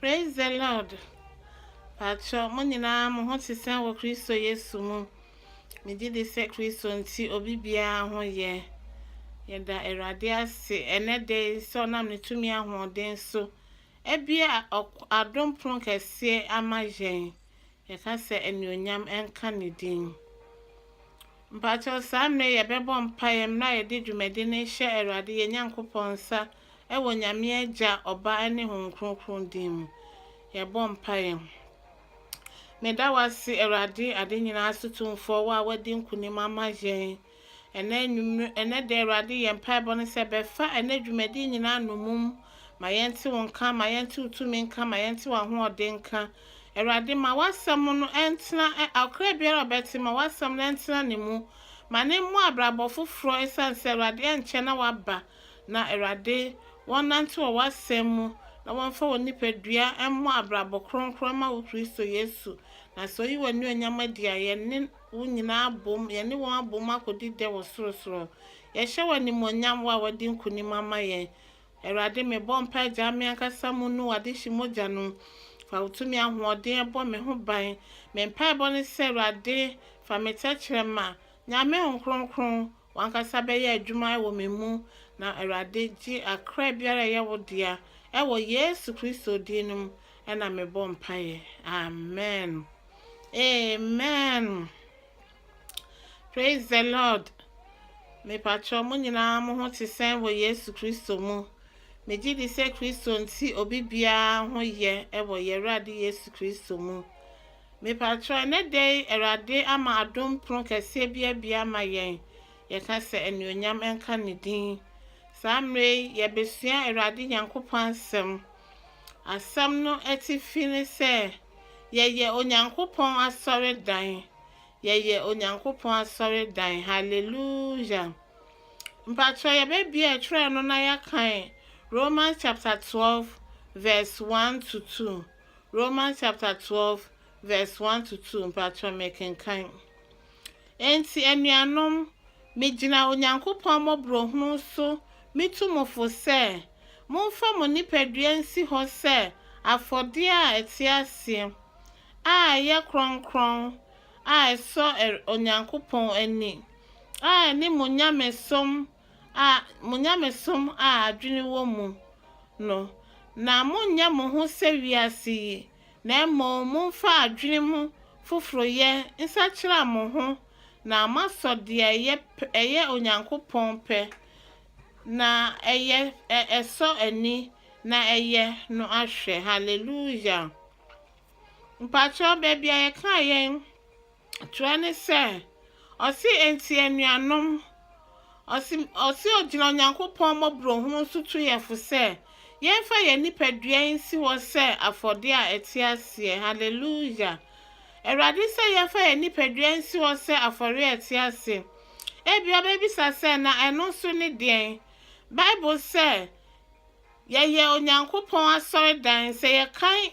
Praise the Lord. Patrɔ, mo nyinaa mo ho te sɛn wɔ Kristo Yesu mu? Megye di sɛ Kristo nti obi biara ho yɛ. Yɛda Awurade ase ɛnɛ da yi sɛ ɔnam ne tumi ahoɔden so abue adom pono kɛseɛ ama yɛn. Yɛka sɛ anuonyam nka ne din. Mpatrɔ saa mmerɛ yɛbɛbɔ mpaeɛ mmerɛ a yɛde dwumadi no hyɛ Awurade yɛn Nyankopɔn nsa Wɔ Nyame Agya, Ɔba ne Honhom Kronkron din mu, yɛbɔ mpaeɛ. Meda wo ase, Awurade, ade nyinaa so Tumfoɔ, wo a woadi nkonim ama yɛn ɛnɛ anwummerɛ, ɛnɛ da, Awurade, yɛn mpaebɔ ne sɛ, bɛfa ɛnɛ dwumadie nyinaa nnommum, ma yɛnte wo nka, ma yɛnte wo tumi nka, ma yɛnte w'ahoɔden nka. Awurade, ma w'asɛm no ntena, ɔkra biara a ɔbɛte, ma w'asɛm no ntena ne mu, ma ne mmɔ abrabɔ foforɔ, ɛsiane sɛ, Awurade, ɛnkyɛ na waba. Na Awurade, wɔnnante wɔ w'asɛm mu, na wɔmfa wɔn nipadua mmɔ abrabɔ kronkron mma wo Kristo Yesu. Na sɛ woyi w'anuonyam adi a, yɛne wo nyinaa abom, yɛne wɔn abom akɔdi dɛ wɔ sorosoro. Yɛhyɛ wo animuonyam, wo a woadi nkonim ama yɛn. Awurade, mebɔ mpae gyaa me ankasa mu nu w'adehye mogya no. Fa wo tumi ahoɔden bɔ me ho ban. Me mpaebɔ ne sɛ, Awurade, fa me tɛkyerɛma. Nyan me Honhom Kronkron, W'ankasa bɛyɛ adwuma wɔ me mu, na Awurade gye akra biara a ɛyɛ wo dea, wɔ Yesu Kristo din no mu na mebɔ mpaeɛ. Amen. Amen. Praise the Lord. Mepatrɔ mo nyinaa mo ho te sɛn wɔ Yesu Kristo mu. Megye di sɛ Kristo nti obi biara ho yɛ wɔ yɛn Awurade Yesu Kristo mu. Mepakyɛw, ɛnnɛ da yi Awurade ama adom pono kɛseɛ bi abue ama yɛn, yɛka sɛ anuonyam nka ne din. Saa mmerɛ yi yɛbɛsua Awurade Nyankopɔn asɛm. Asɛm no atifi ne sɛ, yɛyɛ Onyankopɔn asɔredan. Yɛyɛ Onyankopɔn asɔredan. Hallelujah. Mpakyɛw yɛbɛbie ɛtwerɛ no na yɛakan Romans chapter 12 verse 1 to 2. Romans chapter twelve verse one to two mpatsɔ mekenkan. Ntsi enuanom, migyina Onyankopɔn mbɔborɔhunu so mitu mo fo sɛ, momfa mo nipadua nsi hɔ sɛ afɔdeɛ a ɛte aseɛ, a ɛyɛ krɔnkrɔn, a ɛsɔ Onyankopɔn ani, a ɛne mo nyamesom a mo nyamesom a adwene wɔ mu no, na monnyɛ mo ho sɛ wiase yi, na mmom momfa adwene mu foforoyɛ nsakyera mo ho na moasɔ deɛ ɛyɛ pɛ, ɛyɛ Onyankopɔn pɛ, na ɛyɛ, ɛ, ɛsɔ ani, na ɛyɛ no ahwɛ. Hallelujah! Mpakyɛw, baabi a yɛkaa yɛn. toa ne sɛ, ɔse, Enti anuanom, ɔse, ɔse ɔgyina Onyankopɔn mmɔborɔhunu so tu yɛn fo sɛ, yɛmfa yɛn nipadua yi nsi hɔ sɛ afɔdeɛ a ɛte aseɛ. Hallelujah! Awurade sɛ yɛmfa yɛn nipadua nsi hɔ sɛ afɔreɛ a ɛte ase. Ebi ɔbɛbisa sɛ, na ɛno nso ne deɛn? Bible sɛ, yɛyɛ Onyankopɔn asɔredan, sɛ yɛkan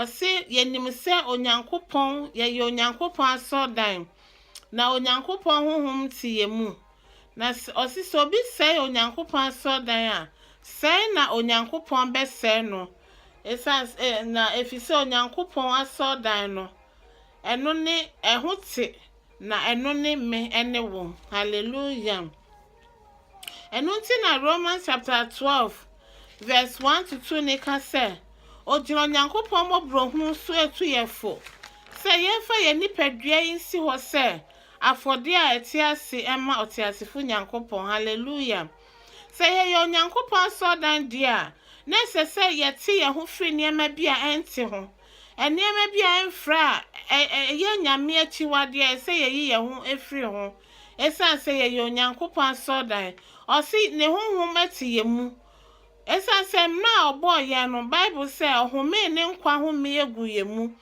Ɔse yɛnim sɛ Onyankopɔn, yɛyɛ Onyankopɔn asɔrdan, na Onyankopɔn honhom te yɛn mu. Na ɔse sɛ obi sɛe Onyankopɔn asɔrdan a, sɛe na Onyankopɔn bɛsɛe no, esiane, na efisɛ Onyankopɔn asɔrdan no, ɛno ne, ɛho te, na ɛno ne me ne wo. Hallelujah! Ɛno nti na Romans chapter 12 verse 1 to 2 no ka sɛ, Ogyina Onyankopɔn mmɔborɔhunu so atu yɛn fo sɛ yɛmfa yɛn nipadua yi nsi hɔ sɛ afɔdeɛ a ɛte ase mma ɔteasefo Nyankopɔn. Hallelujah! Sɛ yɛyɛ Onyankopɔn asɔredan deɛ a, na ɛsɛ sɛ yɛte yɛn ho firi nneɛma bi a ɛnte ho, nneɛma bi a ɛmfra a ɛyɛ nyame akyiwadeɛ a ɛsɛ sɛ yɛyi yɛn ho firi ho. Esiane sɛ yɛyɛ Onyankopɔn asɔrdan, ɔse ne honhom te yɛn mu. Esiane sɛ mmerɛ a ɔbɔɔ yɛn no, Bible sɛ ɔhomee ne nkwa homee guu yɛn mu.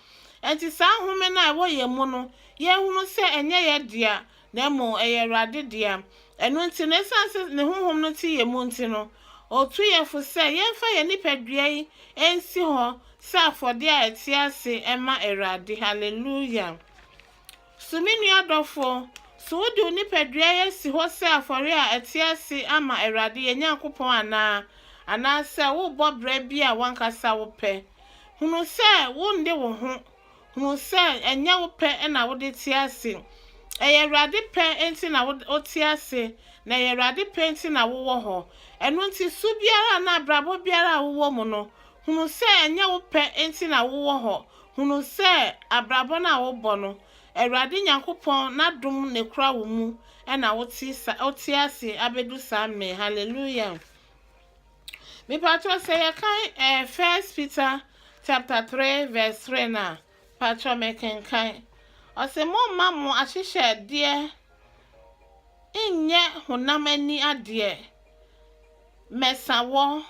Enti saa nhome no a ɛwɔ yɛn mu no, yɛnhunu sɛ ɛnyɛ yɛn dea, na mmom ɛyɛ Awurade dea. Ɛno nti no, esiane sɛ ne honhom no te yɛn mu nti no, ɔtu yɛn fo sɛ yɛmfa yɛn nipadua yi nsi hɔ sɛ afɔdeɛ a ɛte ase ma Awurade. Hallelujah! So me nua dɔfo, so wode wo nipadua yi asi hɔ sɛ afɔre a ɛte ase ama Awurade, yɛn Nyankopɔn anaa? Anaasɛ worebɔ bra bi a w'ankasa wopɛ? Hunu sɛ wonde wo ho. Hunu sɛ ɛnyɛ wo pɛ na wode te ase. Ɛyɛ Awurade pɛ nti na wote ase, na ɛyɛ Awurade pɛ nti na wowɔ hɔ. Ɛno nti, su biara anaa abrabɔ biara a wowɔ mu no, Hunu sɛ ɛnyɛ wo pɛ nti na wowɔ hɔ. Hunu sɛ abrabɔ no a wobɔ no, Awurade Nyankopɔn n'adom na ɛkura wo mu na wote ase abɛdu saa mmɛ yi. Hallelujah! Mepatrɔ sɛ yɛkan eh, First Peter chapter 3 verse 3 no a, patrɔ mekenkan. Ɔse momma mo ahyehyɛdeɛ nyɛ honam ani adeɛ, mɛsa wɔ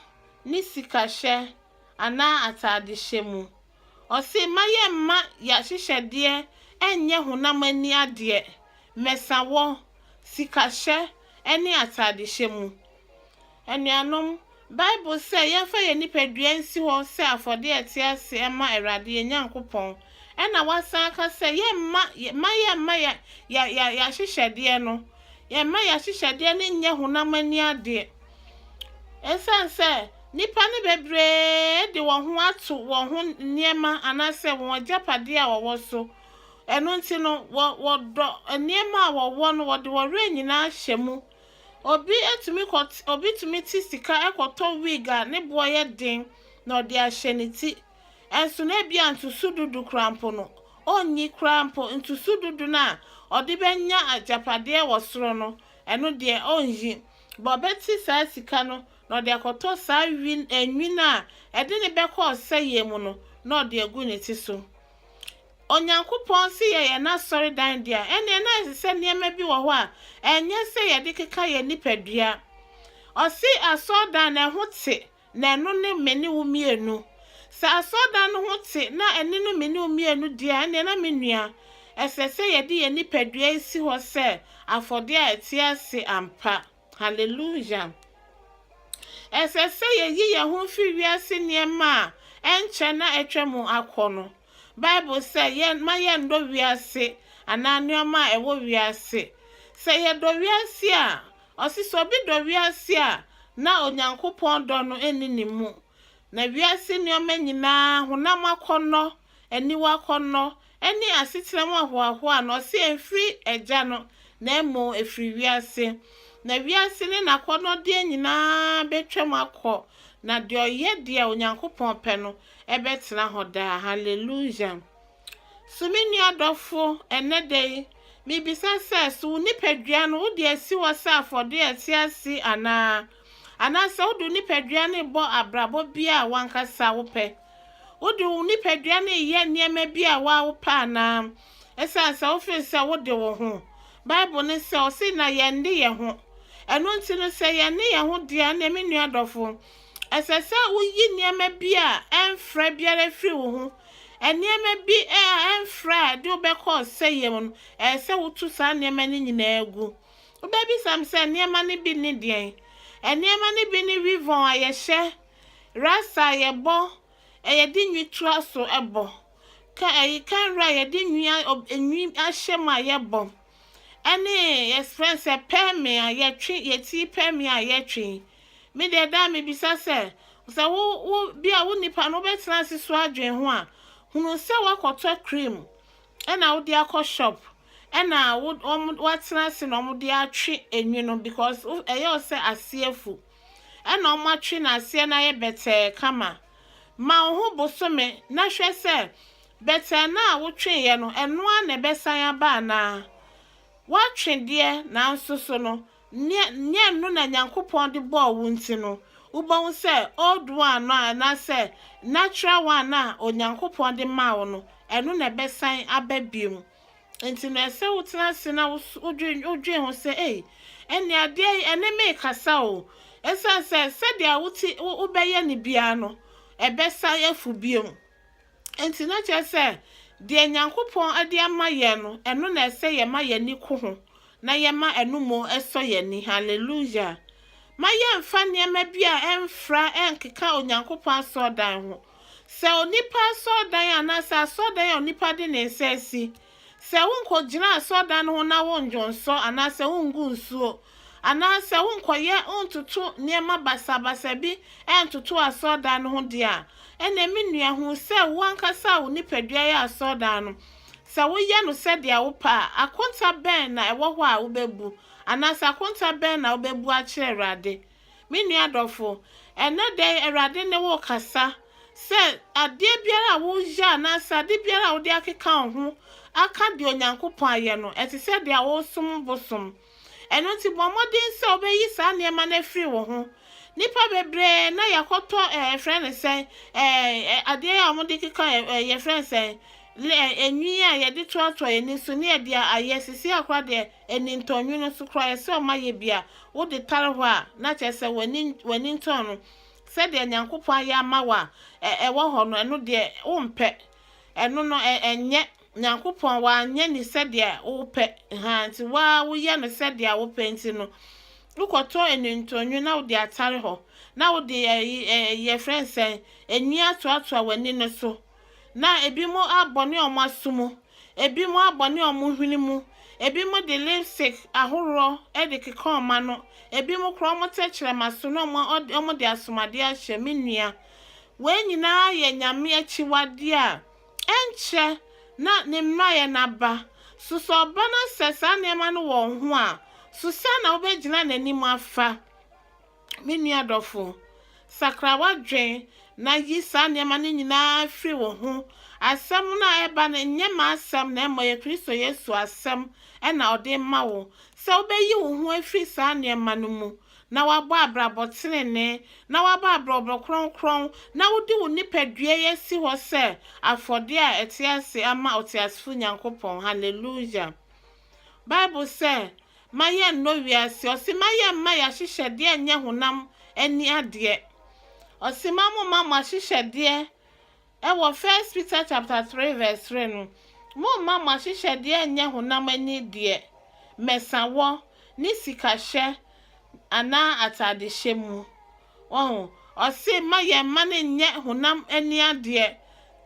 ne sikahyɛ anaa ataadehyɛ mu. Ɔse, Mma yɛmma y'ahyehyɛdeɛ nnyɛ honam ani adeɛ, mmɛsawɔ, sikahyɛ ne ataadehyɛ mu. Anuanom, Bible sɛ yɛmfa yɛn nipadua nsi hɔ sɛ afɔdeɛ a ɛte ase mma Awurade, yɛn Nyankopɔn. Ɛna wasan aka sɛ yɛmma, mma yɛmma yɛ, yɛ, yɛ, y'ahyehyɛdeɛ no, yɛmma y'ahyehyɛdeɛ no nnyɛ honam ani adeɛ. Esiane sɛ nnipa no bebree de wɔn ho ato wɔn ho nneɛma anaasɛ wɔn agyapadeɛ a wɔwɔ so, ɛno nti no, wɔ, wɔdɔ nneɛma a wɔwɔ no, wɔde wɔn werɛ nyinaa hyɛ mu. Obi tumi kɔ, obi tumi te sika kɔtɔ wig a ne boɔ yɛ den na ɔde ahyɛ ne ti. Ɛnso na ebia ntoso dudu koraa mpo no, ɔnyi koraa mpo ntoso dudu no a ɔde bɛnya agyapadeɛ wɔ soro no, ɛno deɛ ɔnyi. ma ɔbɛte saa sika no na ɔde akɔtɔ saa nwini a ɛde no bɛkɔ ɔsɛeɛ mu no na ɔde agu ne ti so. Onyankopɔn se yɛyɛ n'asɔredan de a, ɛnneɛ na ɛsɛ sɛ nneɛma bi wɔ hɔ a ɛnyɛ sɛ yɛde keka yɛn nipadua. Ɔse asɔredan no, ɛho te, na ɛno ne me ne wo mmienu. Sɛ asɔredan no ho te na ɛne no me ne wo mmienu deɛ a, ɛnneɛ na me nua, ɛsɛ sɛ yɛde yɛn nipadua yi si hɔ sɛ afɔdeɛ a ɛte ase ampa. Haleluya! Ɛsɛ sɛ yɛyi yɛn ho firi wiase nneɛma a ɛnkyɛ na atwam akɔ no Bible sɛ yɛn mma yɛnnɔ wiase anaa nneɛma a ɛwɔ wiase. Sɛ yɛdɔ wiase a, ɔse sɛ obi dɔ wiase a, na Onyankopɔn dɔ no nni ne mu. Na wiase nneɛma nyinaa, honam akɔnnɔ, aniwa akɔnnɔ, ne asetra mu ahoahoa no, ɔse ɛmfiri Agya no, na mmom ɛfiri wiase. Na wiase ne n'akɔnnɔdeɛ nyinaa bɛtwam akɔ, na deɛ ɔyɛ deɛ Onyankopɔn pɛ no, ɛbɛtena hɔ daa. Hallelujah! So me nua dɔfo, ɛnnɛ da yi, mibisa sɛ, so wo nipadua no wode asi hɔ sɛ afɔde a ɛte ase anaa? Anaasɛ wode wo nipadua no rebɔ abrabɔ bi a w'ankasa wopɛ? Wode wo nipadua no reyɛ nneɛma bi a woa wopɛ anaa? Esiane sɛ wofeel sɛ wode wo ho. Bible no sɛ ɔse na yɛn de yɛn ho. Ɛno nti no sɛ yɛn ne yɛn ho deɛ ɛnneɛ me nua dɔfo, Ɛsɛ sɛ wuyi nneɛma bi a ɛmfra biara firi wo ho. Nneɛma bi a ɛmfra a ɛde wo bɛkɔ ɔsɛeɛ mu no, ɛsɛ sɛ wotu saa nneɛma no nyinaa gu. Wobɛbisa me sɛ nneɛma no bi ne deɛn? Nneɛma no bi ne wivɔn a yɛhyɛ, rasta a yɛbɔ, yɛde nwi toa so bɔ, ka ɛyi kanra a yɛde nwi a nwi ahyɛ mu a yɛbɔ. ɛne yɛfrɛ no sɛ pɛɛme a yɛtwe yɛti pɛɛme a yɛtwe me deɛ daa mebisa sɛ sɛ wo wo bi a wo nipa no wobɛtena ase so adwene ho a hunu sɛ woakɔtɔ cream ɛna wode akɔ shop ɛna woatena ase na wɔde atwe enwi no because ɛyɛ sɛ aseɛ fu ɛna wɔatwe na aseɛ no ayɛ bɛtɛɛ kama ma wo ho bosome na hwɛ sɛ Bɛtɛɛ no a wotweeɛ no, ɛno ara na ɛbɛsan aba anaa? Woatwe deɛ, nanso so no, nyɛ nyɛ ɛno na Nyankopɔn de bɔɔ wo nti no, wobɛhu sɛ old one no a anaasɛ natural one no a Onyankopɔn de maa wo no, ɛno na ɛbɛsan aba bio. Nti no, ɛsɛ wotena ase na wo wodwen wodwen ho sɛ, ei, ɛnneɛ adeɛ yi, ɛne me rekasa o. Ɛsiane sɛ sɛdeɛ wote wo wobɛyɛ no biara no, ɛbɛsan afu bio. Enti na kyerɛ sɛ, deɛ Nyankopɔn de ama yɛn no, ɛno na ɛsɛ yɛma yɛn ani ko ho, na yɛma ɛno mu sɔ yɛn ani. Hallelujah! Mma yɛmmfa nneɛma bi a ɛmfra nnkeka Onyankopɔn asɔredan ho. Sɛ onipa asɔredan anaasɛ asɔredan a onipa de ne nsa asi, Sɛ wonnkɔgyina asɔrdan ho na wonndwo nsɔ anaa sɛ wonngu nsuo, anaa sɛ wonnkɔyɛ nntoto nneɛma basabasa bi nntoto asɔrdan no ho deɛ a, ɛnneɛ me nua, hu sɛ wo ankasa a wo nipadua yɛ asɔrdan no, sɛ woyɛ no sɛdeɛ wopɛ a, akonta bɛn na ɛwɔ hɔ a wobɛbu, anaasɛ akonta bɛn na wobɛbu akyerɛ Awurade? Me nua dɔfo, ɛnnɛ da yi Awurade ne wo rekasa sɛ adeɛ biara a woreyɛ anaasɛ ade biara a wode akeka wo ho aka deɛ Onyankopɔn ayɛ no, ɛte sɛ deɛ woresom bosom. Ɛno nti bɔ mmɔden sɛ wobɛyi saa nneɛma no afiri wo ho. Nnipa bebree na yɛakɔtɔ ɛɛ yɛfrɛ no sɛn ɛɛ adeɛ a wɔde keka ɛɛ yɛfrɛ no sɛn le ɛɛ enwi a yɛde toatoa yɛn ani so ne ɛde ayɛ sisi akora deɛ anintɔn nwunu so koraa, ɛsɛ sɛ ɔma yɛ bi a wode tare hɔ a, na kyerɛ sɛ w'anintɔn no, sɛdeɛ Nyankopɔn ayɛ ama wo a, ɛwɔ hɔ no, ɛno deɛ wompɛ. Ɛno no, ɛnyɛ. Nyankopɔn, wanyɛ ne sɛdeɛ wopɛ, ha nti woa woyɛ no sɛdeɛ wopɛ nti no, wokɔtɔ anintɔn nwunu na wode atare hɔ, na wode yɛfrɛ nsɛn, enwi atoatoa w'ani no so. Na ebinom abɔne a wɔaso mu, ebinom abɔne a wɔhwene mu, ebinom de lipstick ahoroɔ de keka wɔn ano, ebinom koraa wɔn tɛkyerɛma so na wɔn wɔde asomadeɛ ahyɛ. Me nua, wei nyinaa yɛ Nyame akyiwadeɛ a ɛnkyɛ na ne mmerayɛ no aba. So sɛ ɔba na sɛ saa nneɛma no wɔ wo ho a, so sɛn na wobɛgyina n'anim afa? Me nua dɔfo, sakra w'adwene na yi saa nneɛma no nyinaa firi wo ho. Asɛm no a ɛreba no, nyɛ m'asɛm na mmom ɛyɛ Kristo Yesu asɛm na ɔde rema wo, sɛ wobɛyi wo ho afiri saa nneɛma no mu na woabɔ abrabɔ tenenee, na woabɔ abrɔbrɔ kronkron, na wode wo nipadua yi asi hɔ sɛ afɔdeɛ a ɛte ase ama ɔteasefo Nyankopɔn. Hallelujah! Bible sɛ, Ma yɛnnɔ wiase. Ɔse ma yɛmma y'ahyehyɛdeɛ nyɛ honam ani adeɛ. Ɔse ma momma mo ahyehyɛdeɛ ɛwɔ First Peter chapter 3 verse 3 no, momma mo ahyehyɛdeɛ nyɛ honam ani deɛ, mɛsawɔ, ne sikahyɛ anaa atadehyɛ mu. Wahu? Ɔse mma yɛn mma no nyɛ honam ani adeɛ.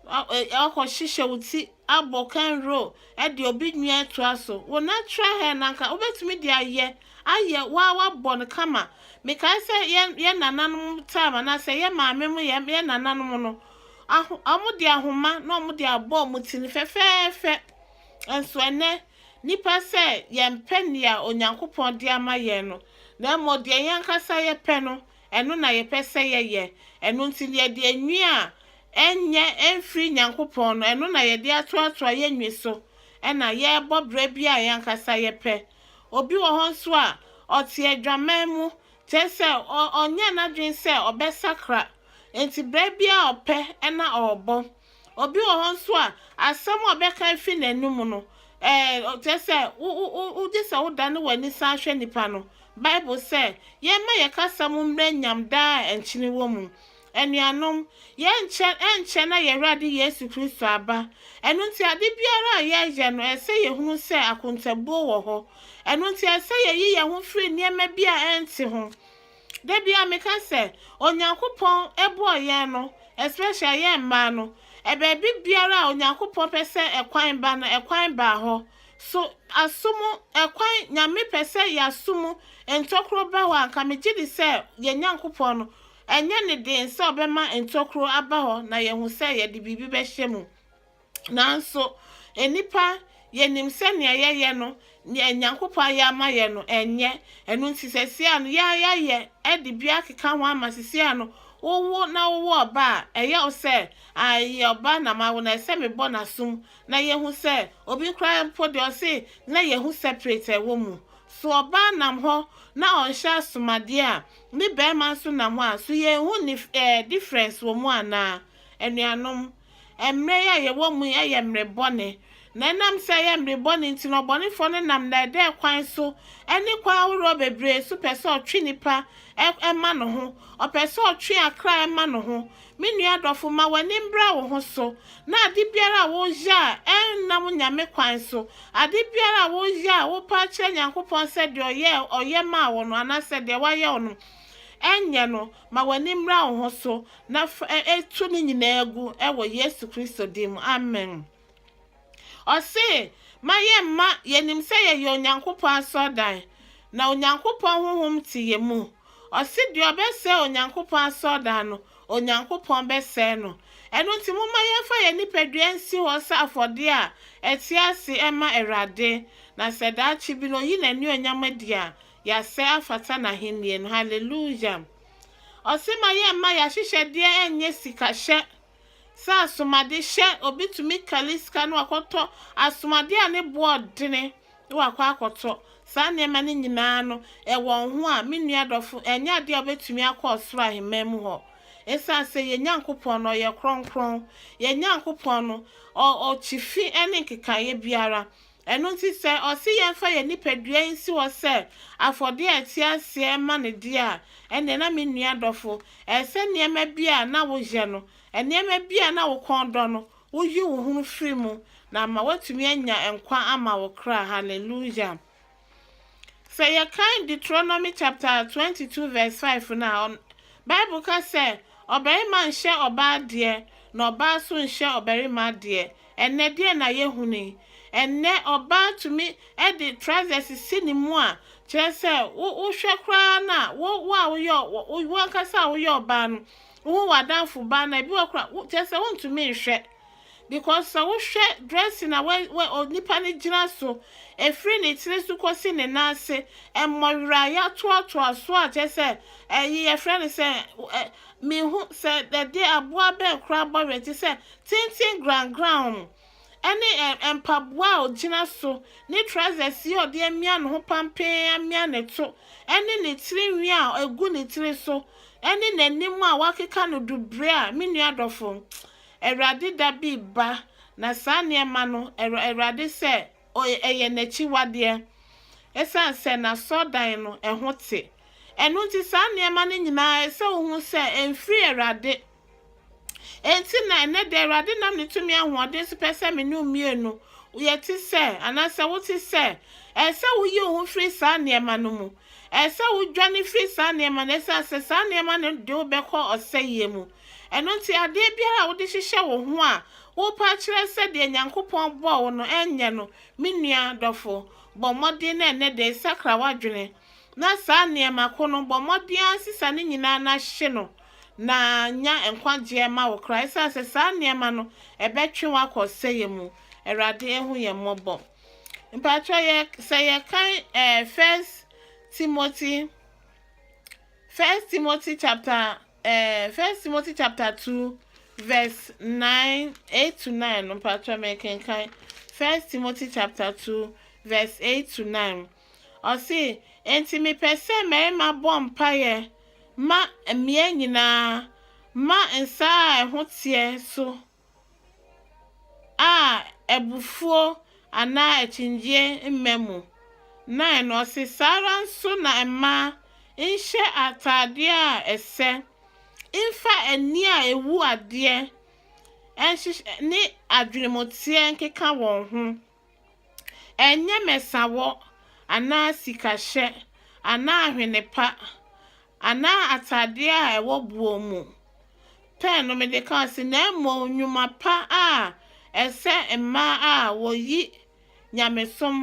Ɔkɔ hyehyɛ wo ti abɔ kanro de obi nwi atoa so. Wo natural hair no anka wobɛtumi de ayɛ ayɛ waa wabɔ no kama. Mekae sɛ yɛ yɛ nananom time anaasɛ yɛ maame mo yɛ yɛ nananom no aho wɔn de ahoma na wɔn de abɔ wɔn ti no fɛfɛɛfɛ. Nso ɛnɛ Nnipa sɛ yɛmpɛ nea Onyankopɔn de ama yɛn no, na mmom deɛ yɛn ankasa yɛpɛ no, ɛno na yɛpɛ sɛ yɛyɛ. Ɛno nti, yɛde enwi a ɛnyɛ mfiri Nyankopɔn no, ɛno na yɛde atoatoa yɛn nwi so, ɛna yɛrebɔ berɛ bi a yɛn ankasa yɛpɛ. Obi wɔ hɔ nso a, ɔte adwaman mu, kyerɛ sɛ, ɔ, ɔnyɛɛ n'adwene sɛ ɔbɛsakra, enti berɛ biara a ɔpɛ na ɔrebɔ. Obi wɔ hɔ nso a, asɛm a ɔbɛka afi n'anom no, ɛɛ, kyerɛ sɛ, wo, wo, wo, wogye sɛ wodane w'ani san hwɛ nipa no. Bible sɛ, Yɛmma yɛn kasa mu mmrɛ nyam daa a nkyene wɔ mu. Anuanom, yɛrenkyɛ, ɛrenkyɛ na yɛn Awurade Yesu Kristo aba. Ɛno nti, ade biara a yɛreyɛ no, ɛsɛ sɛ yɛhunu sɛ akontabuo wɔ hɔ. Ɛno nti, ɛsɛ sɛ yɛyi yɛn ho firi nneɛma bi a ɛnte ho. Da biara meka sɛ Onyankopɔn bɔɔ yɛn no, especially yɛn mmaa no, baabi biara a Onyankopɔn pɛ sɛ ɛkwan ba no, ɛkwan baa hɔ. So asom ɛkwan, Nyame pɛ sɛ yɛasom ntokuro ba hɔ a, anka megye di sɛ yɛn Nyankopɔn no, ɛnyɛ ne den sɛ ɔbɛma ntokuro aba hɔ na yɛahu sɛ yɛde biribi bɛhyɛ mu. Nanso, nnipa, yɛnim sɛ nea yɛyɛ no, nea Nyankopɔn ayɛ ama yɛn no, ɛnyɛ. Ɛno nti, seesei no, yɛn a yɛayɛ de bi akeka ho ama seesei no, wowo na wowɔ ɔba a, ɛyɛ wo sɛ, Ah, ɛyɛ ɔba na mawo no, ɛsɛ sɛ mebɔ n'asom na yɛhu sɛ obi koraa mpo deɛ ɔse na yɛhu separate a ɛwɔ mu. So ɔbaa nam hɔ na ɔnhyɛ asomadeɛ a ne barima nso nam hɔ a, so yɛnhu nif ɛɛ difference wɔ mu anaa? Anuanom, Mmerɛ yi a yɛwɔ mu yi yɛ mmerɛ bɔne, na ɛnam sɛ ɛyɛ mmerɛ bɔne nti no, ɔbɔnefoɔ no nam nnɛɛdɛɛ kwan so ne kwan ahoroɔ bebree so pɛ sɛ ɔtwe nnipa ma ne ho, ɔpɛ sɛ ɔtwe akra ma ne ho. Me nua dɔfo, ma w'ani mbra wo ho so, na ade biara a woyɛ a ɛnnam Nyame kwan so, ade biara a woyɛ a wopɛ akyerɛ Nyankopɔn sɛ deɛ ɔyɛɛ ɔyɛ maa wo no, anaasɛ deɛ wayɛ wo no, ɛnyɛ no. Ma w'ani mmra wo ho so, na tu ne nyinaa gu wɔ Yesu Kristo din mu, amen. Ɔse, Ma yɛmma, yɛnim sɛ yɛyɛ Onyankopɔn asɔrdan, na Onyankopɔn Honhom te yɛ mu. Ɔse, Deɛ ɔbɛsɛe Onyankopɔn asɔrdan no, Onyankopɔn bɛsɛe no. Ɛno nti, momma yɛmfa yɛn nipadua nsi hɔ sɛ afɔdeɛ a ɛte ase mma Awurade, na sɛ daakye bi no ɔyi n'anuonyam adi a, Yasɛ afata n'ahennie no hallelujah Ɔse ma yɛ mma y'ahyehyɛ deɛ ɛnyɛ sika hyɛ sɛ asomade hyɛ obi tumi kali sika no wakɔtɔ asomade a ne boɔ dene na wakɔ akɔtɔ saa nneɛma no nyinaa no ɛwɔ ho a me nua dɔfo ɛnyɛ adeɛ a ɔbɛtumi akɔ ɔsoro aheman mu hɔ ɛsiane sɛ yɛ Nyankopɔn no ɔyɛ kronkron yɛ Nyankopɔn no ɔ ɔkyi fi ɛne nkekaeɛ biara Ɛno nti sɛ ɔse yɛmfa yɛn nipadua yi nsi hɔ sɛ afɔdeɛ a ɛte aseɛ ma ne deɛ a, ɛnneɛ na me nua dɔfo, ɛyɛ sɛ nneɛma bi a na woyɛ no, nneɛma bi a na wo kɔn dɔ no, woyi wo ho firi mu na ama woatumi anya nkwa ama wo kra. Hallelujah! Sɛ yɛkan Deuteronomy chapter 22 verse 5 no a, Bible ka sɛ, Ɔbarima nhyɛ ɔbaa adeɛ, na ɔbaa nso nhyɛ ɔbarima adeɛ. Ɛnnɛ, deɛn na yɛhunui? Ɛnnɛ, ɔbaa tumi de trousers si ne mu a, kyerɛ sɛ, wo, wohwɛ koraa no a, wo, wo a woyɛ, wo, wo, wo ankasa a woyɛ ɔbaa no, wohu w'adamfo baa no a, ebi wɔ hɔ koraa, wo, kyerɛ sɛ, wontumi nhwɛ. Because sɛ wohwɛ dressing a wɛ, wɛ, onipa no gyina so, ɛfiri ne tiri so kɔsi ne nan ase, mmɔwerɛ a yɛatoatoa so a, kyerɛ sɛ, ɛyi, yɛfrɛ no sɛ, ɛ, menhu sɛ ɛdeɛ, aboa bɛn koraa bɔwerɛ te sɛ tenten grangran no ne ɛ mpaboa a ɔgyina so, ne trousers yi a ɔde amia ne ho pampee amia ne to, ne ne tiri nwi a ɛgu ne tiri so, ne n'anim a wɔakeka no dubre a, me nua dɔfo, Awurade da bi reba, na saa nneɛma no, Awur Awurade sɛ, o ɛyɛ n'akyiwadeɛ, ɛsiane sɛ n'asɔrdan no, ɛho te. Ɛno nti, saa nneɛma no nyinaa, ɛsɛ sɛ wohu sɛ ɛmfiri Awurade. Enti na ɛnnɛ da Awurade nam ne tumi ahoɔden so pɛ sɛ me ne wo mmienu yɛte sɛ, anaasɛ wote sɛ. Ɛsɛ sɛ woyi wo ho firi saa nneɛma no mu. Ɛsɛ sɛ wodwane firi saa nneɛma no, ɛsɛ sɛ saa nneɛma no de wo bɛkɔ ɔsɛeɛ mu. Ɛno nti, adeɛ biara a wode hyehyɛ wo ho a worepa akyerɛ sɛ deɛ Nyankopɔn bɔɔ wo no, ɛnyɛ no. Me nua dɔfo, bɔ mmɔden na ɛnnɛ da yi sakra w'adwene, na saa nneɛma ko no, bɔ mmɔden ara sesa ne nyinaa na hye no. na nya nkwagyeɛ ma wo koraa, ɛsiane sɛ saa nneɛma no ɛbɛtwe wo akɔ ɔsɛeɛ mu. Awurade ahu yɛn mmɔbɔ. Mpakyɛ yɛ sɛ yɛkan ɛɛ eh, First Timothy, First Timothy chapter ɛɛ eh, First Timothy chapter two verse nine eight to nine no mpakyɛ mɛkenkan First Timothy chapter two verse eight to nine. Ɔse, Enti mepɛ sɛ mmarima bɔ mpaeɛ ma mmea nyinaa ma nsa a ɛho teɛ so a abufuo anaa akyingyeɛ mma mu. 9 no ɔse, Saa ara nso na mmaa nhyɛ ataadeɛ a ɛsɛ, mfa ani a ɛwu adeɛ nhyehyɛ ne adwenemuteɛ nkeka wɔn ho. Ɛnyɛ mɛsawɔ anaa sikahyɛ anaa ahwene pa anaa atadeɛ a ɛwɔ boɔ mu pɛ no mede ka ase, na mmom nnwuma pa a ɛsɛ mmaa a wɔyi nyamesom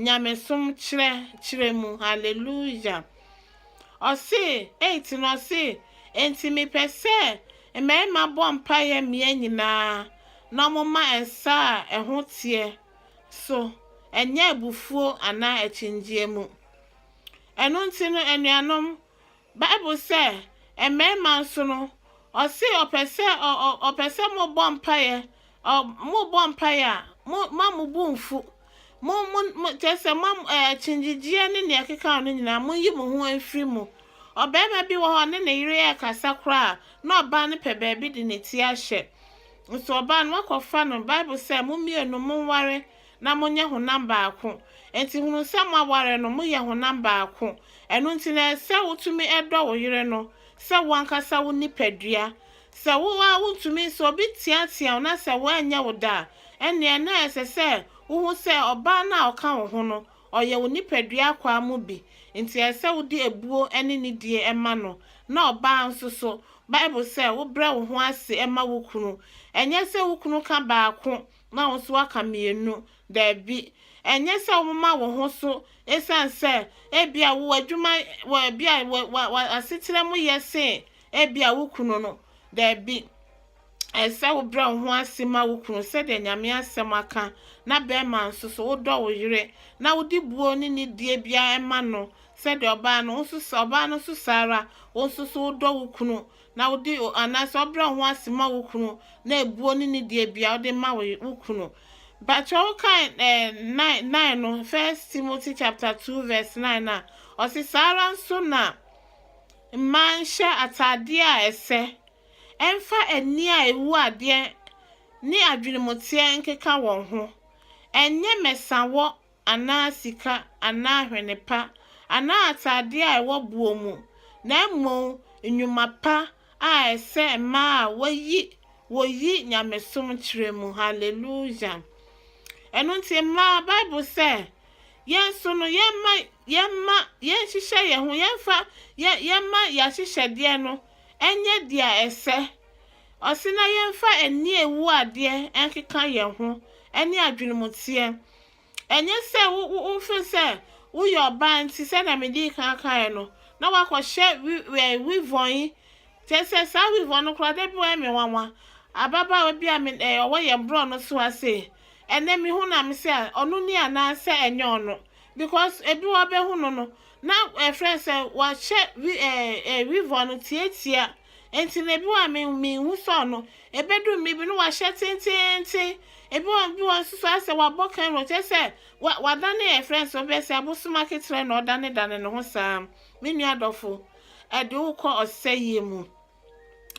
nyamesom kyerɛ kyerɛ mu hallelujah ɔse eight no ɔse enti mepɛ sɛ mmarima bɔ mpaeɛ mmea nyinaa na ɔmo ma nsa a ɛho teɛ so ɛnyɛ abufuo anaa akyingyeɛ mu ɛno nti no anuanom Bible sɛ mmarima nso no ɔse ɔpɛ sɛ ɔpɛ sɛ mo bɔ mpaeɛ ɔ mo bɔ mpaeɛ a mo ma mo bo nfu mo mo mo kyɛ sɛ mo ɛɛ kyingyegyeɛ ne nea ɛkeka no nyinaa mo yi mo ho mfiri mu ɔbarima bi wɔ hɔ ne ne yere ɛkasa koraa na ɔbaa no pɛ baabi de ne ti ahyɛ nso ɔbaa no akɔfa no bible sɛ mo mmienu mo nware na monyɛ honam baako. Enti hunu sɛ moaware no, moyɛ honam baako. Ɛno nti na ɛsɛ sɛ wotumi dɔ wo yere no sɛ wo ankasa wo nipadua. Sɛ wo ara wuntumi, sɛ obi teatea wo na sɛ wanyɛ wo dɛ a, ɛnneɛ na ɛsɛ sɛ wuhu sɛ ɔbaa no a ɔka wo ho no, ɔyɛ wo nipadua akwaa mu bi. Enti ɛsɛ sɛ wode abuo ne nidie ma no. Na ɔbaa nso so, Bible sɛ, Wobrɛ wo ho ase ma wo kunu. Ɛnyɛ sɛ wo kunu ka baako Na wo nso woaka mmienu. Dabi. Ɛnyɛ sɛ womoma wo ho so esiane sɛ ebia wo adwuma, wo, ebia wo, wo, w'asetra mu yɛ sen ebia wo kunu no. Dabi. Ɛsɛ sɛ wobrɛ wo ho ase ma wo kunu sɛdeɛ Nyame asɛm aka, na bɛrima nso so, wodɔ wo yere, na wode buo ne nidie biara ma no, sɛdeɛ ɔbaa no, wo nso, ɔbaa no nso saa ara, wo nso so wodɔ wo kunu, na wode o anaasɛ ɔbrɛ wo ho ase ma wo kunu na ebuo ne ne deɛ bia wode ma wo wo kunu bakyɛ wo kan eh, nine nine no first Timothy chapter two verse nine na ɔsi saa ara nso na mmaa nhyɛ ataadeɛ a ɛsɛ ɛmfa ani a ewu adeɛ ne adwenemuteɛ nkeka wɔn ho ɛnyɛ mɛsawɔ anaa sika anaa hwene pa anaa ataadeɛ a ɛwɔ boɔ mu, na mmom nnwuma pa a ɛsɛ mmaa a wɔyi wɔyi nyamesom kyerɛ mu. Hallelujah! Ɛno nti mmaa, Bible sɛ, yɛn nso no, yɛmma, yɛmma, yɛnhyehyɛ yɛn ho, yɛmfa, yɛ, yɛmma yɛahyehyɛdeɛ no ɛnyɛ deɛ ɛsɛ. Ɔse na yɛmfa ani ewu adeɛ nkeka yɛn ho, ɛne adwenemuteɛ. Ɛnyɛ sɛ wofiri sɛ woyɛ ɔbaa nti, sɛdeɛ medii kan kaeɛ no, na wakɔhyɛ wivɔn yi. Kyerɛ sɛ saa wivɔn no koraa da bi wayɛ me nwanwa. Ababaawa bi a ɔwɔ yɛn borɔ no so ha sei, ɛnɛ mehu no a me sɛ ɔno ni anaasɛ ɛnyɛ ɔno because ebi wɔ bɛhu no no na ɛfrɛ sɛ wahyɛ wivɔn no tiatia. Enti na ebi wɔ hɔ a me minhu sɛ ɔno. Ebedu mmere bi no wahyɛ tenteenten. Ebi wɔ ebi wɔ nso so ayɛ sɛ wabɔ kanro kyerɛ sɛ wa wadane yɛ frɛ nso bɛyɛ sɛ abosom aketerɛ na ɔdanedane ne ho saa. Me nua dɔfo, ɛde wo kɔ ɔsɛeɛ mu.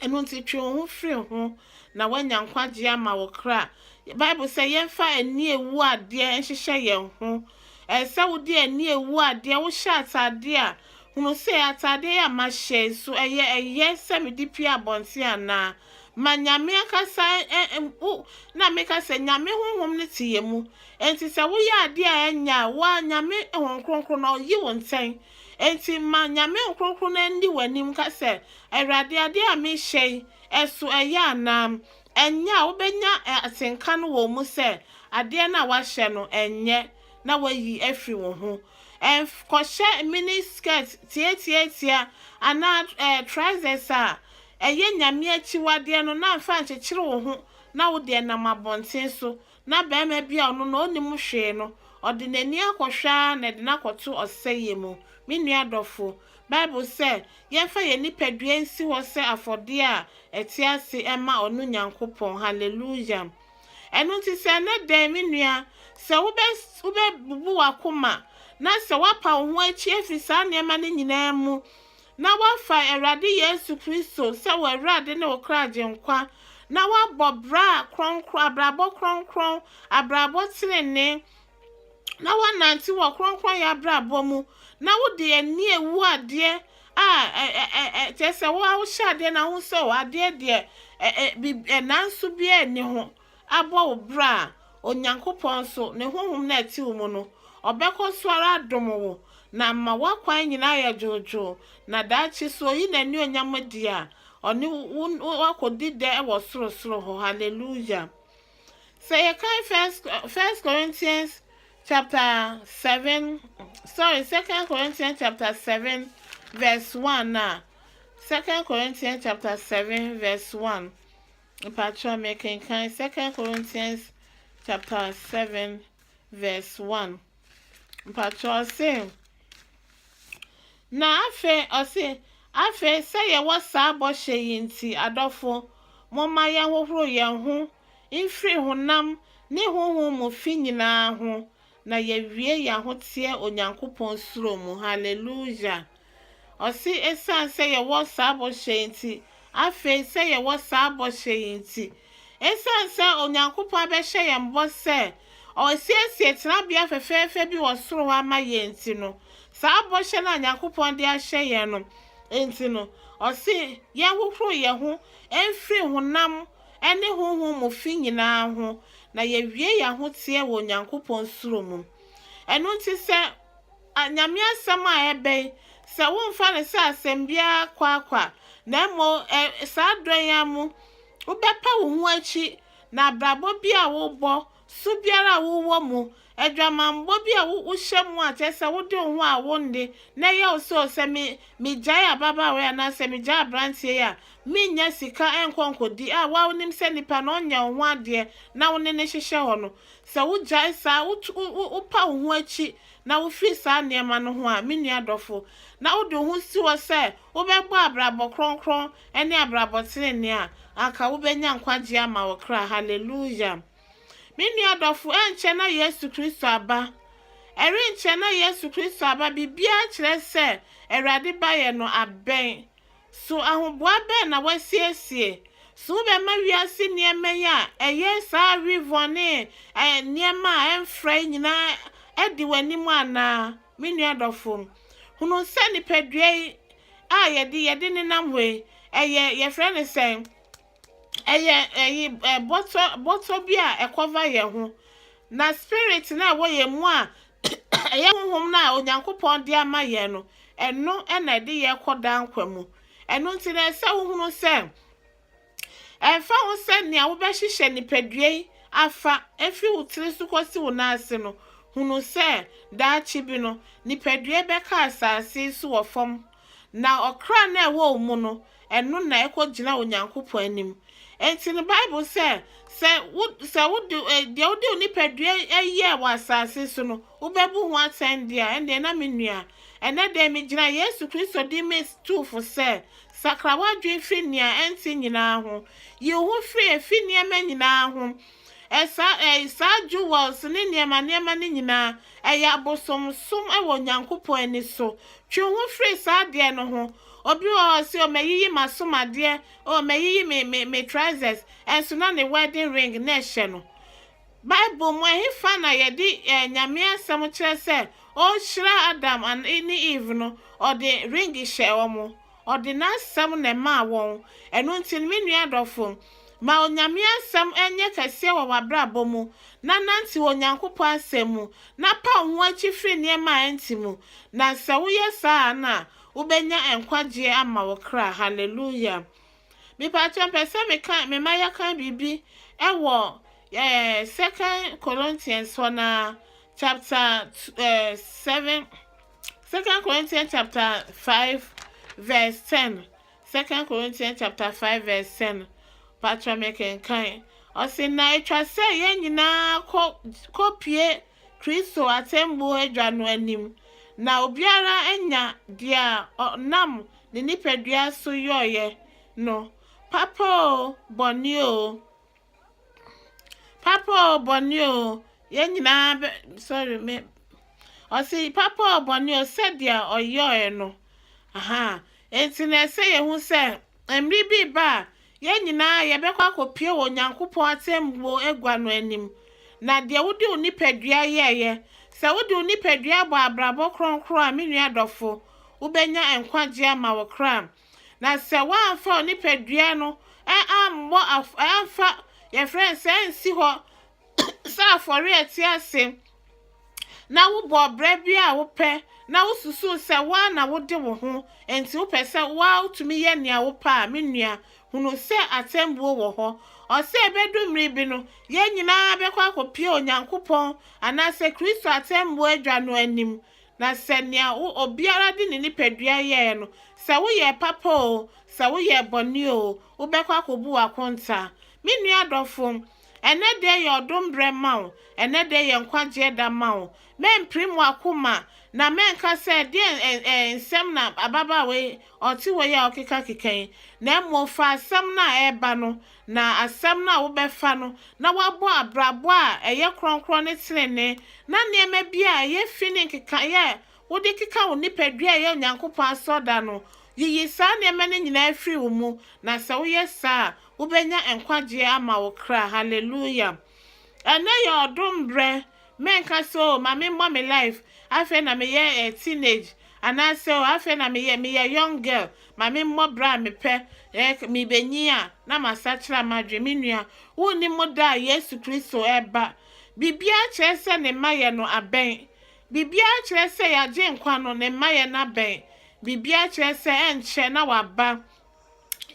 Ɛno nti twe wo ho firi ho na woanya nkwagyeɛ ama wo kra. Bible sɛ yɛmfa ani ewu adeɛ nhyehyɛ yɛn ho Ɛsɛ sɛ wode ani wu adeɛ, wohyɛ ataadeɛ a, hunu sɛ ataadeɛ yi a mahyɛ yi so, ɛyɛ ɛyɛ sɛ mede pue abɔnten anaa? Ma Nyame ankasa ɛ ɛ wo, na meka sɛ Nyame Honhom no te yɛn mu, enti sɛ woyɛ adeɛ a ɛnyɛ a, wo ara Nyame Honhom Kronkron no ɔyi wo ntɛn. Enti ma Nyame Honhom Kronkron no nni w'anim nka sɛ, Awurade, adeɛ a mehyɛ yi, ɛso ɛyɛ anaa? Ɛnyɛ a, wobɛnya atenka no wɔ mu sɛ adeɛ no a woahyɛ no ɛnyɛ na woayi afiri wo ho. Ɛnkɔhyɛ mini skirt tiatiatia anaa trousers a ɛyɛ Nyame akyiwadeɛ no na mfa nkyekyere wo ho na wodeɛ nam abɔnten so na barima bi a ɔno na onnim hwee no, ɔde n'ani akɔhwɛ ara na ɛde no akɔto ɔsɛeɛ mu. Me nua adɔfo, Bible sɛ yɛmfa yɛn nipadua nsi hɔ sɛ afɔdeɛ a ɛte ase mma ɔno Nyankopɔn. Hallelujah! Ɛno nti sɛ ɛnnɛ dɛn, me nua, sɛ wobɛ, wobɛbubu w'akoma, na sɛ woapa wo ho akyi afi saa nneɛma no nyinaa mu, na woafa Awurade Yesu Kristo sɛ wo Awurade ne wo kra Agyenkwa, na woabɔ bra kronkron, abrabɔ kronkron, abrabɔ tenenee, na woanante wɔ kronkronyɛ abrabɔ mu, na wode ani awu adeɛ a kyerɛ sɛ wo a wohyɛ adeɛ na ho sɛ o adeɛ deɛ nanso biara nni ho abɔ wo bra a, Onyankopɔn nso, ne honhom no a ɛte wo mu no, ɔbɛkɔ so ara adom wo, na ama w'akwan nyinaa ayɛ dwoodwoo, na daakye sɛ ɔyi n'anuonyam adi a, ɔne wo akɔdi dɛ wɔ sorosoro hɔ. Hallelujah! Sɛ yɛkan First, First Corinthians chapter 7, sorry, Second Corinthians chapter 7 verse 1 a, Second Corinthians chapter 7 verse 1, Mpakyɛw mekenkan Second Corinthians chapter seven verse one. Mpakyɛw ɔse, na afei ɔse, afei sɛ yɛwɔ saa bɔhyɛ yi nti, adɔfo, momma yɛnhohoro yɛn ho mfiri honam ne honhom mu fi nyinaa ho, Na yɛwie yɛn ahoteɛ Onyankopɔn suro mu. Hallelujah! Ɔse ɛsiane sɛ yɛwɔ saa bɔhyɛ yi nti, afei sɛ yɛwɔ saa bɔhyɛ yi nti, ɛsiane sɛ Onyankopɔn abɛhyɛ yɛn bɔ sɛ Ɔresiesie tenabea fɛfɛɛfɛ bi wɔ soro hɔ ama yɛn nti no, saa bɔhyɛ no a Nyankopɔn de ahyɛ yɛn no nti no, Ɔse yɛnhohoro yɛn ho mfiri honam ne honhom mu fi nyinaa ho, na yɛawie yɛn ahoteɛ wɔ Onyankopɔn suro mu. Ɛno nti sɛ a, Nyame asɛm a ɛbɛn, sɛ womfa no sɛ asɛm biara kwaakwa, na mmom ɛ, saa dɔ yi ara mu, wobɛpa wo ho akyi, na abrabɔ bi a wobɔ Su biara a wowɔ mu, adwamammɔ bi a wohyɛ mu a kyerɛ sɛ wode wo ho a wonnde na ɛyɛ wo sɛ o sɛ me megyae ababaawa yi anaa sɛ megyae aberanteɛ yi a mennya sika nkɔ nkɔdi a wo a wonim sɛ nipa no ɔnyɛ wo ho adeɛ na wo ne no hyehyɛ hɔ no sɛ wogyae saa wotu wo wopa wo ho akyi na wofiri saa nneɛma no ho a me nua dɔfo na wode wo ho si hɔ sɛ wobɛbɔ abrabɔ kronkron Ɛne abrabɔ trenee a anka wobɛnya nkwagyeɛ ama wo kra, Hallelujah! Me nua adɔfo, ɛrenkyɛ na Yesu Kristo aba. Ɛrenkyɛ na Yesu Kristo aba, biribiara kyerɛ sɛ Awurade baeɛ no abɛn. So ahoboa bɛn na woasiesie? So wobɛma wiase nneɛma yi a ɛyɛ saa revɔn ne nneɛma a ɛmfra yi nyinaa adi w'anim anaa? Me nua dɔfo, hunu sɛ nipadua yi a yɛde yɛde nenam hɔ yi, ɛyɛ yɛfrɛ no sɛ ɛyɛ ɛyi ɛ bɔtɔ bɔtɔ bi a ɛkɔva yɛn ho na spirit no a ɛwɔ yɛn mu a ɛyɛ honhom no a Onyankopɔn de ama yɛn no ɛno ɛna ɛde yɛn kɔ daa nkwa mu ɛno nti na ɛsɛ wohunu sɛ Ɛmfa ho sɛ nea wobɛhyehyɛ nipadua yi afa efi wo tiri so kosi wo nan ase no, hunu sɛ daakye bi no, nipadua yi bɛka asase yi so wɔ fam, na ɔkra no a ɛwɔ wo mu no, ɛno na ɛkɔgyina Onyankopɔn anim. Enti no Bible sɛ, sɛ wo sɛ wode eh, deɛ wode wo nipadua eh, yɛ wɔ asase so no, wobɛbu ho atɛn deɛ a, ɛnneɛ na me nua. Ɛnɛ dɛn megyina Yesu Kristo din me tu fo sɛ, Sakra w'adwene fi nea ɛnte nyinaa ho. Yi wo ho firi efi nneɛma nyinaa ho. Ɛsa, ɛyi, saa jewels ne nneɛma nneɛma no nyinaa, ɛyɛ abosomsom wɔ Onyankopɔn ani so. Twe wo ho firi saa adeɛ no ho. Obi wɔ hɔ ɔse, oh, mayiyi m'asom adeɛ, oh, mayiyi me, me, me trousers, ɛnso na ne wedding ring na ɛhyɛ no. Bible mu ɛhefa na yɛde Nyame asɛm kyerɛ sɛ ɔhyira Adam ne Eve no? Ɔde ring hyɛɛ wɔn. Ɔde n'asɛm na ɛmaa wɔn. Ɛno nti no, me nua adɔfo, ma Onyame asɛm nyɛ kɛseɛ wɔ w'abrabɔ mu, na nantew Onyankopɔn asɛm mu, na pa wo ho akyi firi nneɛma a ɛnte mu, na sɛ woyɛ saa a na wobɛnya nkwagyeɛ ama wo kra. Hallelujah! Mepakyɛw mepɛ sɛ meka mema yɛka biribi wɔ eh, Second Corinthians hɔ na chapter eh, seven Second Corinthians chapter five verse ten Second Corinthians chapter five verse ten pakyɛw mekenkan ɔsi na etwa sɛ yɛn nyinaa kɔ kɔpie Kristo atemmuo adwa no anim na obiara anya deɛ ɔnam ne nipadua so yɔeɛ no, papa oo, bɔne oo, papa oo, bɔne oo, yɛn nyinaa bɛ, sorry, me, ɔse, papa oo, bɔne oo, sɛdeɛ ɔyɔeɛ no, aha, enti na ɛsɛ yɛhu sɛ, mmere bi ba a, Yɛn nyinaa yɛbɛkɔ akɔpue wɔ Onyankopɔn atɛmmuo agua no anim. Na deɛ wode wo nipadua yɛeɛ, sɛ wode wo nipadua bɔ abrabɔ kronkron a, me nua dɔfo, wobɛnya nkwagyeɛ ama wo kra. Na sɛ woamfa wo nipadua no ammɔ, amfa, yɛfrɛ no sɛ ansi hɔ sɛ afɔre a ɛte ase, na wobɔ ɔbra bi a wopɛ, na wosusuw sɛ wo ara na wode wo ho, enti wopɛ sɛ wo ara wutumi yɛ nea wopɛ a, me nua, hunu sɛ atɛnbuo wɔ hɔ. Ɔsɛ ebedu mmere bi no, yɛn nyinaa bɛkɔ akopue Onyankopɔn anaasɛ Kristo atɛnbuo adwa no anim, na sɛ nea wo, obiara de ne nipadua yɛe no, sɛ woyɛɛ papa oo, sɛ woyɛɛ bɔne oo, wobɛkɔ akobu w'akontaa. Me nua dɔfo, Ɛnnɛ dɛ yɛ ɔdom berɛ ma wo, ɛnnɛ dɛ yɛ nkwagyeɛ da ma wo. Mɛmpirim w'akoma, na mɛnka sɛ, Deɛn ɛ ɛ nsɛm na ababaawa yi ɔte hɔ yi a ɔkekakeka yi? Na mmom fa asɛm no a ɛreba no, na asɛm no a wobɛfa no, na woabɔ abrabɔ a ɛyɛ kronkron ne tenenee, na nneɛma bi a ɛyɛ fi ne nkekaeɛ a wode keka wo nipadua a ɛyɛ Onyankopɔn asɔrda no, yiyi saa nneɛma no nyinaa firi wo mu, na sɛ woyɛ saa a, Wobɛnya nkwagyeɛ ama wo kra Hallelujah Ɛnɛ yɛ ɔdom berɛ Mɛnka sɛ oh ma me mmɔ me life Afei na meyɛ eh teenage Anaasɛ oh afei na meyɛ meyɛ young girl Ma me mmɔ berɛ a me pɛ eh Mebɛnyin a na masakyera m'adwene Me nua wonnim da a Yesu Kristo reba Biribiara kyerɛ sɛ ne mmaeɛ no abɛn Biribiara kyerɛ sɛ Y'agyenkwa no ne mmaeɛ no abɛn Biribiara kyerɛ sɛ ɛnkyɛ na waba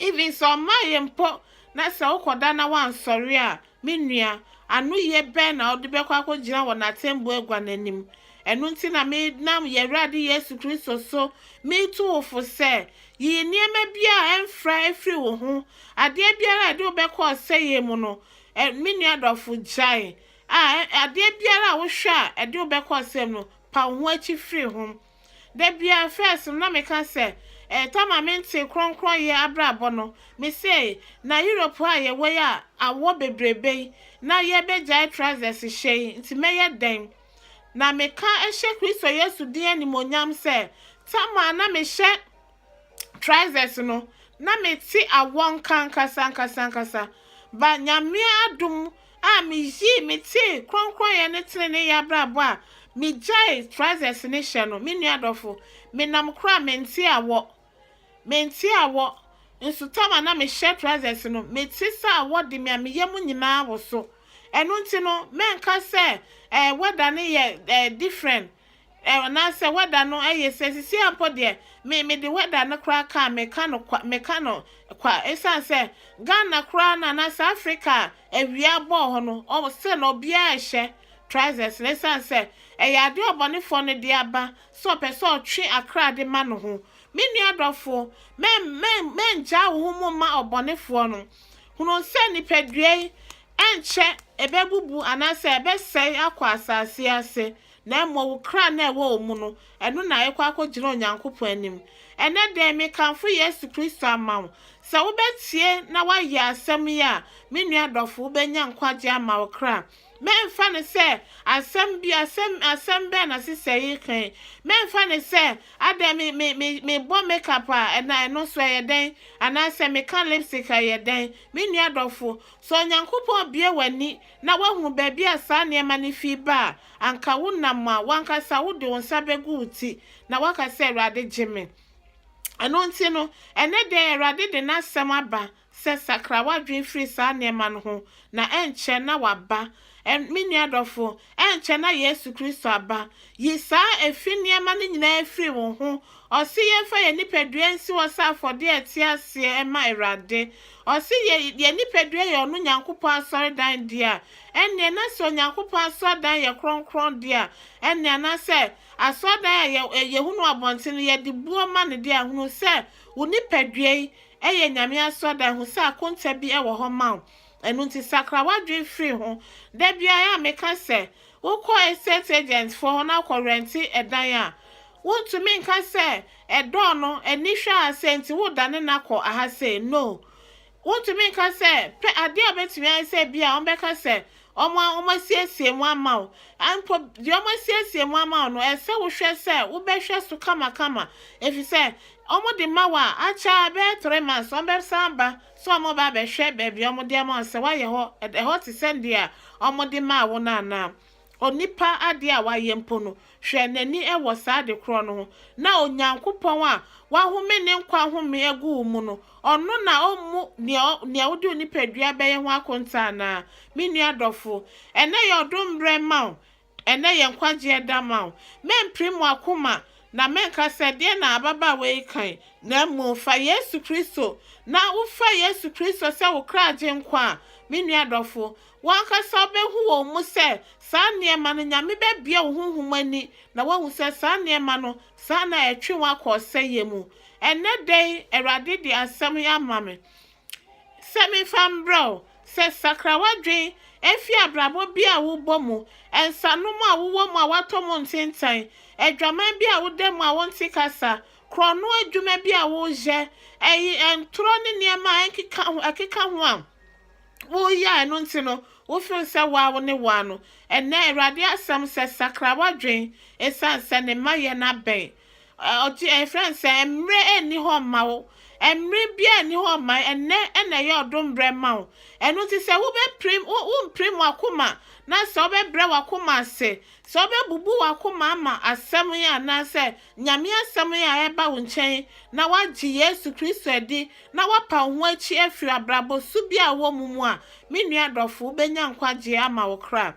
Even sɛ ɔmmaeɛ mpo na sɛ wokɔda na woansɔre a, me nua, anoyie bɛn na wode bɛkɔ akɔgyina wɔ n'atɛmbuo agua no anim? Ɛno nti na menam yɛn Awurade Yesu Kristo so metu wo fo sɛ, Yi nneɛma biara a ɛmfra firi wo ho. Adeɛ biara a ɛde wo bɛkɔ ɔsɛeɛ mu no, ɛ, me nua dɔfo, gyae. A, ɛ, adeɛ biara a wohwɛ a ɛde wo bɛkɔ ɔsɛeɛ mu no, pa wo ho akyi firi ho. Da biara, first no na meka sɛ, eh, Tama mentee krɔnkrɔnyɛ abrabɔ no, me sei, na Europe a yɛwɔ yi a awɔ bebrebe yi, na yɛbɛgyae trousers hyɛ yi, nti mɛyɛ dɛn? Na meka hyɛ Kristo Yesu din animuonyam sɛ, Tama na mehyɛ trousers no na me te awɔ nka ankasa ankasa ankasa ba nyame adom a me yii me te kronkroyɛ ne tene ne yɛ abrabɔ a me gyae trousers ne hyɛ no me nua dɔfo me nam kora me nte awɔ me nte awɔ nso tama na me hyɛ trousers no me te sɛ awɔ de me a me yɛ mu nyinaa wɔ so ɛno nti no mɛnka sɛ eh, wɛda ne yɛ eh, different Ɛ anaasɛ wɛda no ye sɛ sisi ara mpo deɛ me me de wɛda no koraa kaa me ka no kwa me ka no kwa ɛsiane sɛ Ghana koraa no anaasɛ Africa a awia abɔ wɔ hɔ no ɔ still no obiara rehyɛ trousers no ɛsiane sɛ ɛyɛ adeɛ ɔbɔnefoɔ no de aba sɛ ɔpɛ sɛ ɔtwe akra de ma ne ho Me nua dɔfoɔ mɛ mɛ mɛngyaa wo ho mu mma ɔbɔnefoɔ no hunu sɛ nipadua yi ɛnkyɛ ɛbɛbubu anaasɛ ɛbɛsɛe akɔ asase ase. na mmom wo kra no a ɛwɔ wo mu no, ɛno na ɛrekɔ akɔgyina Onyankopɔn anim. Ɛnnɛ da yi, mekamfo Yesu Kristo ama wo. Sɛ wobɛtie na woayɛ asɛm yi a, me nua dɔfo, wobɛnya nkwagyeɛ ama wo kra. Mɛmfa no sɛ asɛm bi, asɛm, asɛm bɛn na sista yi reka yi. Mɛmfa no sɛ, adɛn, me, me, me, mebɔ makeup a, ɛna ɛno nso ɛyɛ dɛn? Anaasɛ meka lipstick a, ɛyɛ dɛn? Me nua dɔfo, sɛ Onyankopɔn bue w'ani na woahu baabi a saa nneɛma no fi ba a, anka wonam a, w'ankasa wode wo nsa bɛgu wo ti, na woaka sɛ, Awurade, gye me. Ɛno nti no, ɛnnɛ da yi Awurade de N'asɛm aba sɛ sakra w'adwene firi saa nneɛma no ho, na ɛnkyɛ na Waba. Ɛ, me nua dɔfo, ɛnkyɛ na Yesu Kristo aba. Yi saa efi nneɛma no nyinaa firi wo ho, Ɔse yɛmfa yɛn nipadua nsi hɔ sɛ afɔdeɛ a ɛte aseɛ ɛma Awurade. Ɔse yɛ yɛn nipadua yɛ ɔno Nyankopɔn asɔredan dea. Ɛnneɛ na sɛ Onyankopɔn asɔredan yɛ kronkron deɛ a, ɛnneɛ anaasɛ asɔredan a yɛ yɛhunu wɔ abɔnten no yɛde buo ma no deɛ a, hunu sɛ wo nipadua yi yɛ Nyame asɔredan, hu sɛ akonta bi wɔ hɔ ma wo. Ɛno nti sakra w'adwene firi ho. Da biara a meka sɛ, Wokɔ estate agent foɔ hɔ na akɔ rɛnte ɛdan a, wontumi nka sɛ ɛdɔɔ no ani hwɛ a sei nti wodane no akɔ aha sei, no. Wontumi nka sɛ, pɛ adeɛ a wɔbɛtumi ayɛ sɛ bi a wɔbɛka sɛ wɔn a wɔasiesie mu ama wo. Mpo deɛ wɔasiesie mu ama wo no, ɛsɛ sɛ wohwɛ sɛ wobɛhwɛ so kamakama ɛfiri sɛ wɔde ma wo a, akyɛ a ɛbɛyɛ three months wɔbɛsan aba Sɛ ɔmo ba bɛhwɛ baabi a ɔmo de ama wo sɛ woayɛ hɔ, ɛhɔ te sɛ deɛ ɔmo de maa wo no anaa? Onipa adeɛ a wayɛ mpo no, hwɛ n'ani wɔ saa ade korɔ no ho, na Onyankopɔn a wahome ne nkwa home agu wo mu no, ɔno na ɔmmu nea nea wode wo nipadua bɛyɛ ho akonta anaa? Me nua dɔfo, ɛnnɛ yɛ ɔdom berɛ mma wo, Ɛnnɛ yɛ nkwagyeɛ da ma wo. Mɛmpire mo akoma na mɛnka sɛ, 'Deɛn na ababaawa yi ka yi? Na mmom fa Yesu Kristo, na wofa Yesu Kristo sɛ wo kra Agyenkwa a, me nua dɔfo, wo ankasa wobɛhu wɔ wo mu sɛ saa nneɛma no, Nyame bɛbue wo honhom ani na woahu sɛ saa nneɛma no, saa na ɛtwe wo akɔ ɔsɛeɛ mu. Ɛnnɛ da yi Awurade de asɛm yi ama me. Sɛ memfa mbrɛ wo sɛ sakra w'adwen fi abrabɔ bi a wobɔ mu, nsanom a wowɔ mu a wɔatɔ mu ntentan, adwaman bi a woda mu a wonte kasa, korɔno adwuma bi a woyɛ, ɛy ntorɔ ne nneɛma a ɛnkeka ho ɛkeka ho a woyɛ a ɛno nti no wo feel sɛ woa wo ne woa no. Ɛnnɛ Awurade asɛm sɛ sakra w'adwen, ɛsiane sɛ ne mma yɛ no abɛn. Ɔteɛɛ frɛɛ no sɛ, Mmere nni hɔ mma wo. Mmere biara nni hɔ mma. Ɛnnɛ na ɛyɛ ɔdom bere mma wo. Ɛno nti sɛ wobɛpirim, wo, wompirim w'akoma, na sɛ wobɛbrɛ w'akoma ase, sɛ wobɛbubu w'akoma ama Asɛm yi anaasɛ Nyame Asɛm yi a ɛreba wo nkyɛn yi, na woagye Yesu Kristo adi, na woapa wo ho akyi afiri abrabɔ su biara a wowɔ mu mu a, me nua dɔfo, wobɛnya nkwagyeɛ ama wo kra.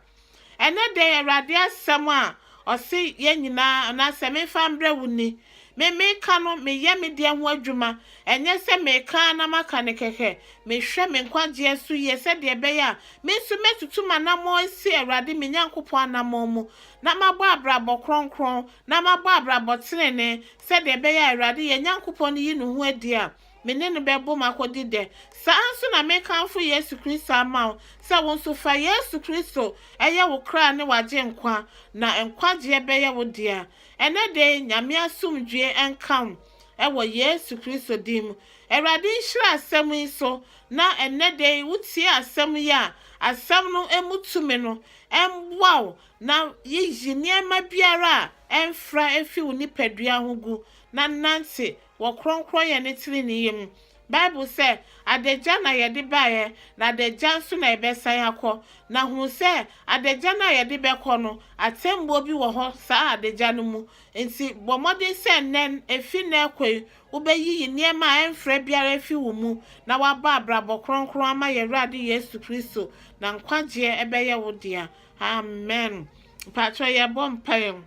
Ɛnnɛ da yi, Awurade asɛm a ɔse yɛn nyinaa, anaasɛ memfa mbrɛ wo ni. Me meka no, meyɛ me deɛ ho adwuma. Ɛnyɛ sɛ meka ara na maka no kɛkɛ. Mehwɛ me nkwagyeɛ so yie sɛdeɛ ɛbɛyɛ a me nso mɛtutu m'anammɔn asi Awurade me Nyankopɔn anammɔn mu, na mabɔ abrabɔ kronkron, na mabɔ abrabɔ tenenee, sɛdeɛ ɛbɛyɛ a Awurade yɛn Nyankopɔn yi ne ho adi a Me ne no bɛbom akodi dɛ. Saa ara nso na mekamfo Yesu Kristo ama wo sɛ wo nso fa Yesu Kristo yɛ wo kra ne w'agyenkwa na nkwagyeɛ bɛyɛ wo dea. Ɛnnɛ da yi Nyame asomdwie nka wo wɔ Yesu Kristo din mu. Awurade nhyira asɛm yi so na ɛnnɛ da yi wotie asɛm yi a asɛm no mu tumi no mmoa wo na yiyi nneɛma biara a ɛmfra fi wo nipadua ho gu na nante wɔ krɔnkrɔnyɛ ne treneeyɛ mu. Bible sɛ, Adagya na yɛde baeɛ, na adagya nso na yɛbɛsan akɔ. Na hu sɛ adagya no a yɛde bɛkɔ no, atɛmmuo bi wɔ hɔ saa adagya no mu. Enti bɔ mmɔden sɛ nnɛ, ɛfiri nnɛ rekɔ yi, wobɛyiyi nneɛma a ɛmfra biara afiri wo mu, na woabɔ abrabɔ krɔnkrɔn ama yɛn Awurade Yesu Kristo, na nkwagyeɛ bɛyɛ wo dea. Amen. Mpakyɛw, yɛbɔ mpaeɛ.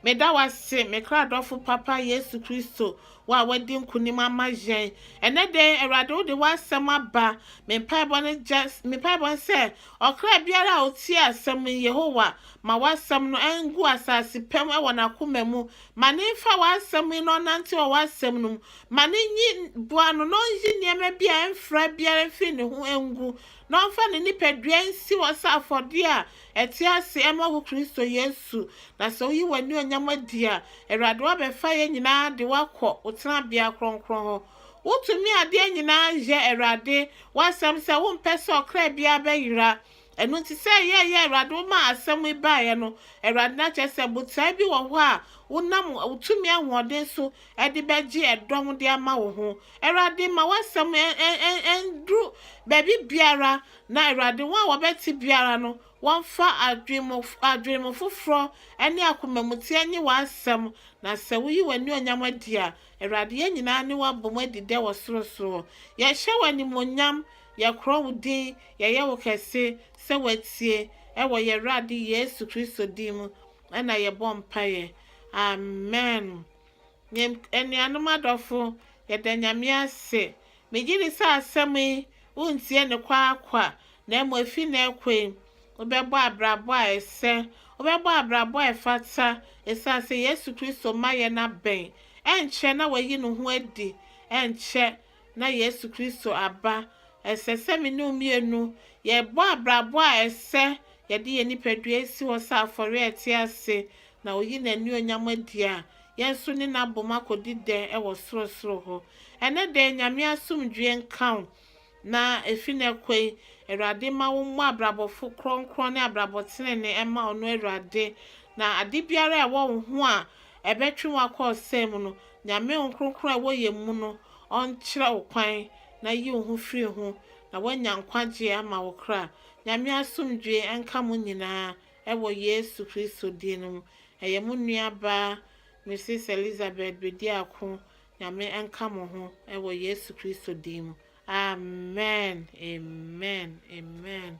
Meda wo ase, me kra dɔfo papa Yesu Kristo, wo a woadi nkonim ama yɛn. Ɛnnɛ da yi, Awurade, wode w'asɛm aba. Me mpaebɔ ne gya, me mpaebɔ ne sɛ, ɔkra biara a otie asɛm yi, Yehowa, ma w'asɛm no ngu asase pa mu wɔ n'akoma mu. Ma no mfa w'asɛm yi na ɔnante wɔ w'asɛm no mu. Ma no nyi, boa no na onyi nneɛma bi a ɛmfra biara mfi ne ho ngu, na ɔmfa ne nipadua nsi hɔ sɛ afɔdeɛ a Ɛte ase ɛma wo Kristo Yesu, na sɛ woyi w'anuonyam adi a, Awurade woabɛfa yɛn nyinaa de wo akɔ wo tenabea kronkron hɔ. Wo tumi adeɛ nyinaa yɛ Awurade woasɛm sɛ wo mpɛ sɛ ɔkra biara bɛyera. Ɛno nti sɛ ɛyɛ ɛyɛ Awurade wo maa asɛm yi baeɛ no, Awurade na kyerɛ sɛ botae bi wɔ hɔ a wo nam wo tumi ahoɔden so de bɛgye ɛdɔm de ama wo ho. Awurade ma woasɛm ɛnduru baabi biara Na Awurade, wɔn a wɔbɛte biara no, wɔmfa adwemmo foforɔ ne akomamuteɛ nnye w'asɛm, na sɛ woyi w'anuonyam adi a, Awurade, yɛn nyinaa ne wo abom adi dɛ wɔ sorosoro. Yɛhyɛ wo animuonyam, yɛkorɔn wo din, yɛyɛ wo kɛse, sɛ woatie, wɔ yɛn Awurade Yesu Kristo din mu na yɛbɔ mpaeɛ. Amen. Me anuanom adɔfo, yɛda Nyame ase. Megye di sɛ asɛm yi, wontie no kwaakwa, na mmom efi nnɛ rekɔ yi, wobɛbɔ abrabɔ a ɛsɛ, wobɛbɔ abrabɔ a ɛfata, esiane sɛ Yesu Kristo mma yɛn abɛn. Ɛnkyɛ na wayi ne ho adi, ɛnkyɛ na Yesu Kristo aba. Ɛsɛ sɛ me ne wo mmienu yɛbɔ abrabɔ a ɛsɛ, yɛde yɛn nipadua si hɔ sɛ afɔre a ɛte ase, na oyi n'anuonyam adi a, yɛn nso ne no abom akɔdi dɛ wɔ sorosoro hɔ. Ɛnnɛ da yi, Nyame asomdwoeɛ nka wo, na ɛfiri nnɛ kɔ yi, Awurade mma wo mmɔ abrabɔ fo kronkron ne abrabɔ tenenee mma Ɔno Awurade, na ade biara a ɛwɔ wo ho a ɛbɛtwe wo akɔ ɔsɛe mu no, Nyame Honhom Kronkron a ɛwɔ yɛn mu no ɔnkyerɛ wo kwan na yi wo ho firi ho na woanya nkwagyeɛ ama wo kra. Nyame asomdwoeɛ nka mo nyinaa ɛwɔ Yesu Kristo din no mu. Ɛyɛ mo nuabaa Mrs. Elizabeth Bediako. Nyame nka mo ho ɛwɔ Yesu Kristo din mu. Amen. Amen. Amen.